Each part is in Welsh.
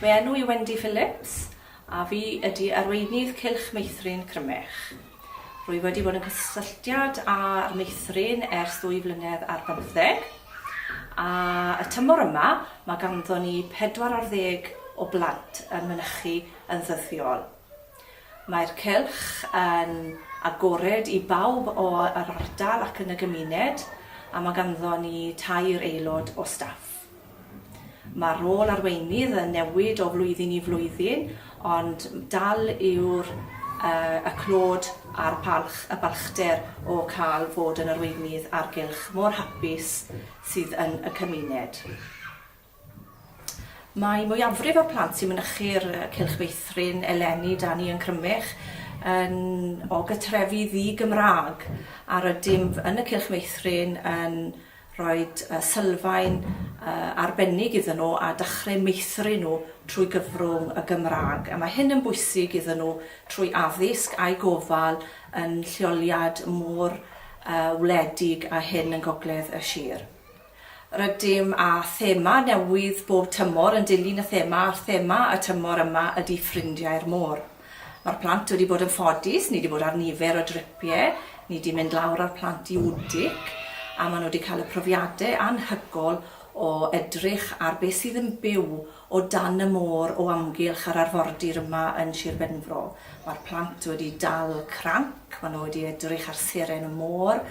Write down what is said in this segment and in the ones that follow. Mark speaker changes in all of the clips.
Speaker 1: Fy enw i Wendy Phillips a fi ydi arweinydd Cylch Meithrin Crymych. Rwy wedi bod yn cysylltiad a'r meithrin ers ddwy flynedd ar bymtheg a y tymor yma mae ganddo ni pedwar ar ddeg o blant yn mynychu yn ddyddiol. Mae'r cylch yn agored i bawb o yr ardal ac yn y gymuned a mae ganddo ni tair aelod o staff. Mae'r rôl arweinydd yn newid o flwyddyn i flwyddyn, ond dal yw'r y clod a'r palch, y balchder o cael fod yn arweinydd a'r gylch mor hapus sydd yn y cymuned. Mae mwyafrif o'r plant sy'n mynychu'r cylch feithrin eleni 'da ni yn Crymych yn o gytrefi ddi-Gymraeg a rydym yn y cylch meithrin yn Rhaid sylfaen arbennig iddyn nhw a dechreu meithrin nhw trwy gyfrwng y Gymraeg. A mae hyn yn bwysig iddyn nhw trwy addysg a'u gofal yn lleoliad mor wledig â hyn yn gogledd y sir. Rydym â thema newydd bob tymor yn dilyn y thema a'r thema y tymor yma ydy Ffrindiau'r Môr. Mae'r plant wedi bod yn ffodus, ni 'di bod ar nifer o dripie, ni 'di mynd lawr â'r plant i Wdig, a ma' nhw 'di cael y profiade anhygol o edrych ar be sydd yn byw o dan y môr o amgylch yr arfordir yma yn Shir Benfro. Mae'r plant wedi dal cranc, ma' nhw wedi edrych ar seren y môr,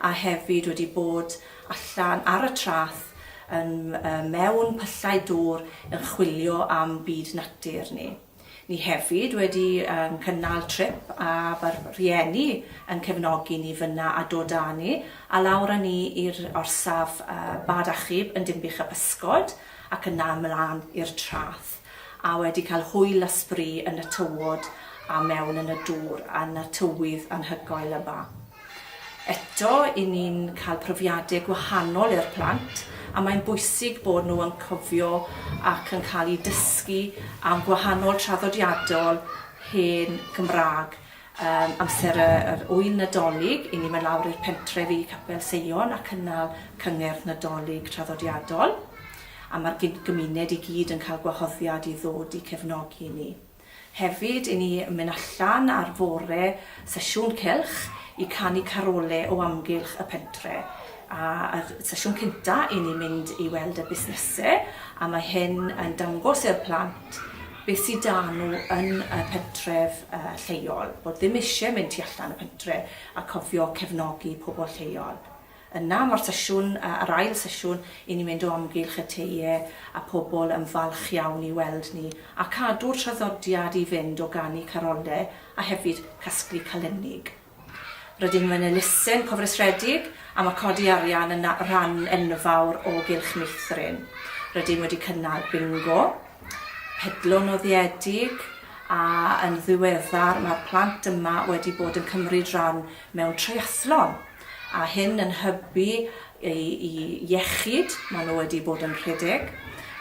Speaker 1: a hefyd wedi bod allan ar y trath yn mewn pyllau dŵr yn chwilio am byd natur ni. Ni hefyd wedi yn cynnal trip a fy rhieni yn cefnogi ni fynna a dod a ni a lawr a ni i'r orsaf bad achub yn Dinbych y Pysgod ac yna ymlan i'r trath a wedi cael hwyl a sbri yn y tywod a mewn yn y dŵr yn y tywydd anhygoel yma. Eto, i ni'n cael profiadau gwahanol i'r plant a mae'n bwysig bod nhw yn cofio ac yn cael eu dysgu am gwahanol traddodiadol hen Gymraeg. Yym amser y yr ŵyl Nadolig, i ni'n mynd lawr i'r pentref i Capel Seion a cynnal cyngerdd Nadolig traddodiadol a ma'r gyd- gymuned i gyd yn cael gwahoddiad i ddod i cefnogi ni. Hefyd, i ni mynd allan ar fore sesiwn cylch i canu carole o amgylch y pentre. A yr sesiwn cynta, i ni mynd i weld y busnese, a mae hyn yn dangos i'r plant beth sy 'da nhw yn y pentref lleol, bod ddim isie mynd tu allan y pentre, a cofio cefnogi pobl lleol. Yna mae'r sesiwn, yr ail sesiwn, i ni mynd o amgylch y teie a pobl yn falch iawn i weld ni a cadw'r traddodiad i fynd o ganu carolle a hefyd casglu calennig. Rydym yn elusen cofrestredig a mae codi arian yn rhan enfawr o gylch meithrin. Rydym wedi cynnal bingo, pedlo noddiedig a yn ddiweddar mae'r plant yma wedi bod yn cymryd rhan mewn treiathlon. a hyn yn hybu eu iechyd, maen nhw wedi bod yn rhedeg,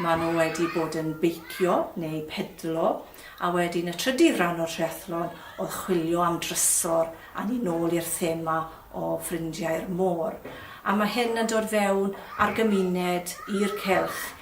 Speaker 1: maen nhw wedi bod yn beicio neu pedlo, a wedyn y trydydd ran o'r triathlon oedd chwilio am drysor a ni nôl i'r thema o ffrindiau'r môr. A mae hyn yn dod fewn a'r gymuned, i'r cylch,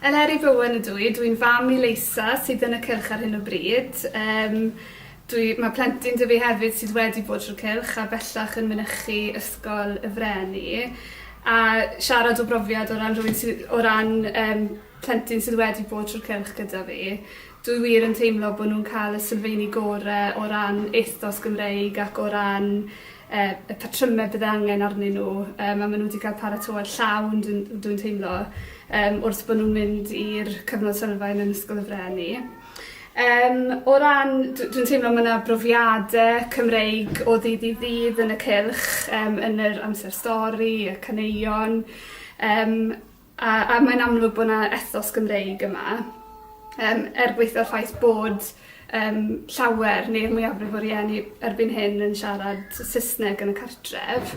Speaker 2: Eleri Bowen ydw i, dwi'n fam i Leisa sydd yn y cylch ar hyn o bryd. Yym dwi... Mae plentyn 'da fi hefyd sydd wedi bod trwy'r cylch a bellach yn mynychu Ysgol y Freni a siarad o brofiad o ran rhywun sy... o ran yym plentyn sydd wedi bod trwy'r cylch gyda fi dwi wir yn teimlo bo' nhw'n ca'l y sylfeini gore o ran ethos Gymreig ac o ran er y patrymau bydd angen arnyn nhw yym a maen nhw wedi cael paratoad llawn dwi'n dwi'n teimlo yym wrth bod nhw'n mynd i'r cyfnod sylfaen yn Ysgol y Freni. Yym o ran dw- dwi'n teimlo mae yna brofiadau Cymreig o ddydd i ddydd yn y cylch yym yn yr amser stori, y caneuon yym A a mae'n amlwg bod 'na ethos Gymreig yma yym er gwaetha'r ffaith bod yym llawer neu'r mwyafrif o rieni erbyn hyn yn siarad t- Saesneg yn y cartref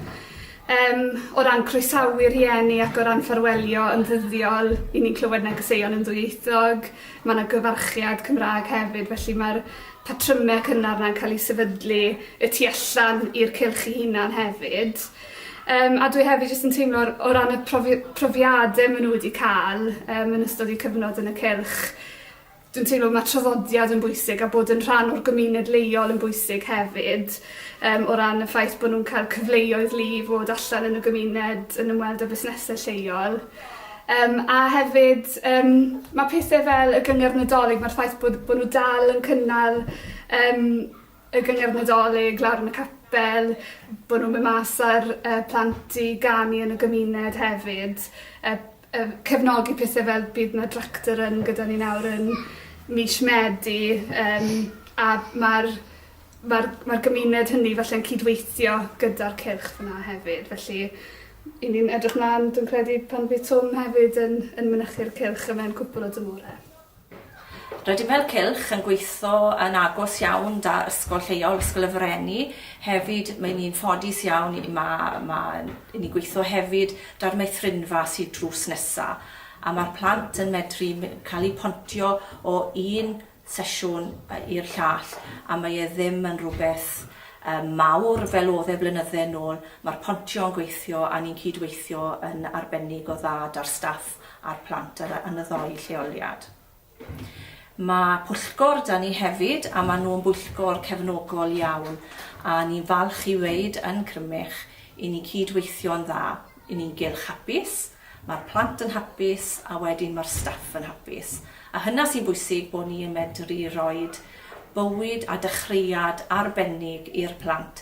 Speaker 2: yym o ran croesawu rhieni ac o ran ffarwelio yn ddyddiol 'yn ni'n clywed negeseuon yn ddwyieithog ma' 'na gyfarchiad Cymra'g hefyd felly ma'r patryme cynnar 'na'n ca'l 'u sefydlu y tu allan i'r cylch 'i hunan hefyd. Yym a dwi hefyd jyst yn teimlo o ran y profi- profiade ma' n'w wedi ca'l yym yn ystod 'u cyfnod yn y cylch dwi'n teimlo ma' traddodiad yn bwysig a bod yn rhan o'r gymuned leol yn bwysig hefyd yym o ran y ffaith bo' nw'n ca'l cyfleoedd lu i fod allan yn y gymuned yn ymweld â busnese lleol. Yym a hefyd yym ma' pethe fel y gyngerdd Nadolig ma'r ffaith bod bo' n'w dal yn cynnal yym y gyngerdd Nadolig lawr yn y capel, bo' nw'n myn' mas a'r yy plant i ganu yn y gymuned hefyd yy yy cefnogi pethe fel bydd 'na Tractor Run gyda ni nawr yn mish Medi yym a ma'r ma'r ma'r gymuned hynny falle'n cydweithio gyda'r cylch fyn 'a hefyd felly 'yn ni'n edrych mlan dwi'n credu pan fydd Twm hefyd yn yn mynychu'r cylch yma yn cwpwl o dymhore.
Speaker 1: Rydym fel cylch yn gweithio yn agos iawn 'da Ysgol Lleol, Ysgol y Frenni, hefyd mae ni'n ffodus iawn i ma' ma' i ni'n gweithio hefyd 'da'r meithrinfa sy drws nesa', a ma'r plant yn medru my- ca'l 'u pontio o un sesiwn yy i'r llall, a mae e ddim yn rwbeth yym mawr fel o'dd e blynydde nôl, ma'r pontio yn gweithio a ni'n cyd-weithio yn arbennig o dda 'da'r staff a'r plant ar y yn y ddou lleoliad. Mae pwyllgor da ni hefyd a maen nhw'n bwyllgor cefnogol iawn a ni'n falch i weud yn Crymych i ni'n cyd-weithio'n dda, i ni'n gylch hapus, mae'r plant yn hapus a wedyn mae'r staff yn hapus a hynna sy'n bwysig bod ni yn medru roid bywyd a dechreuad arbennig i'r plant.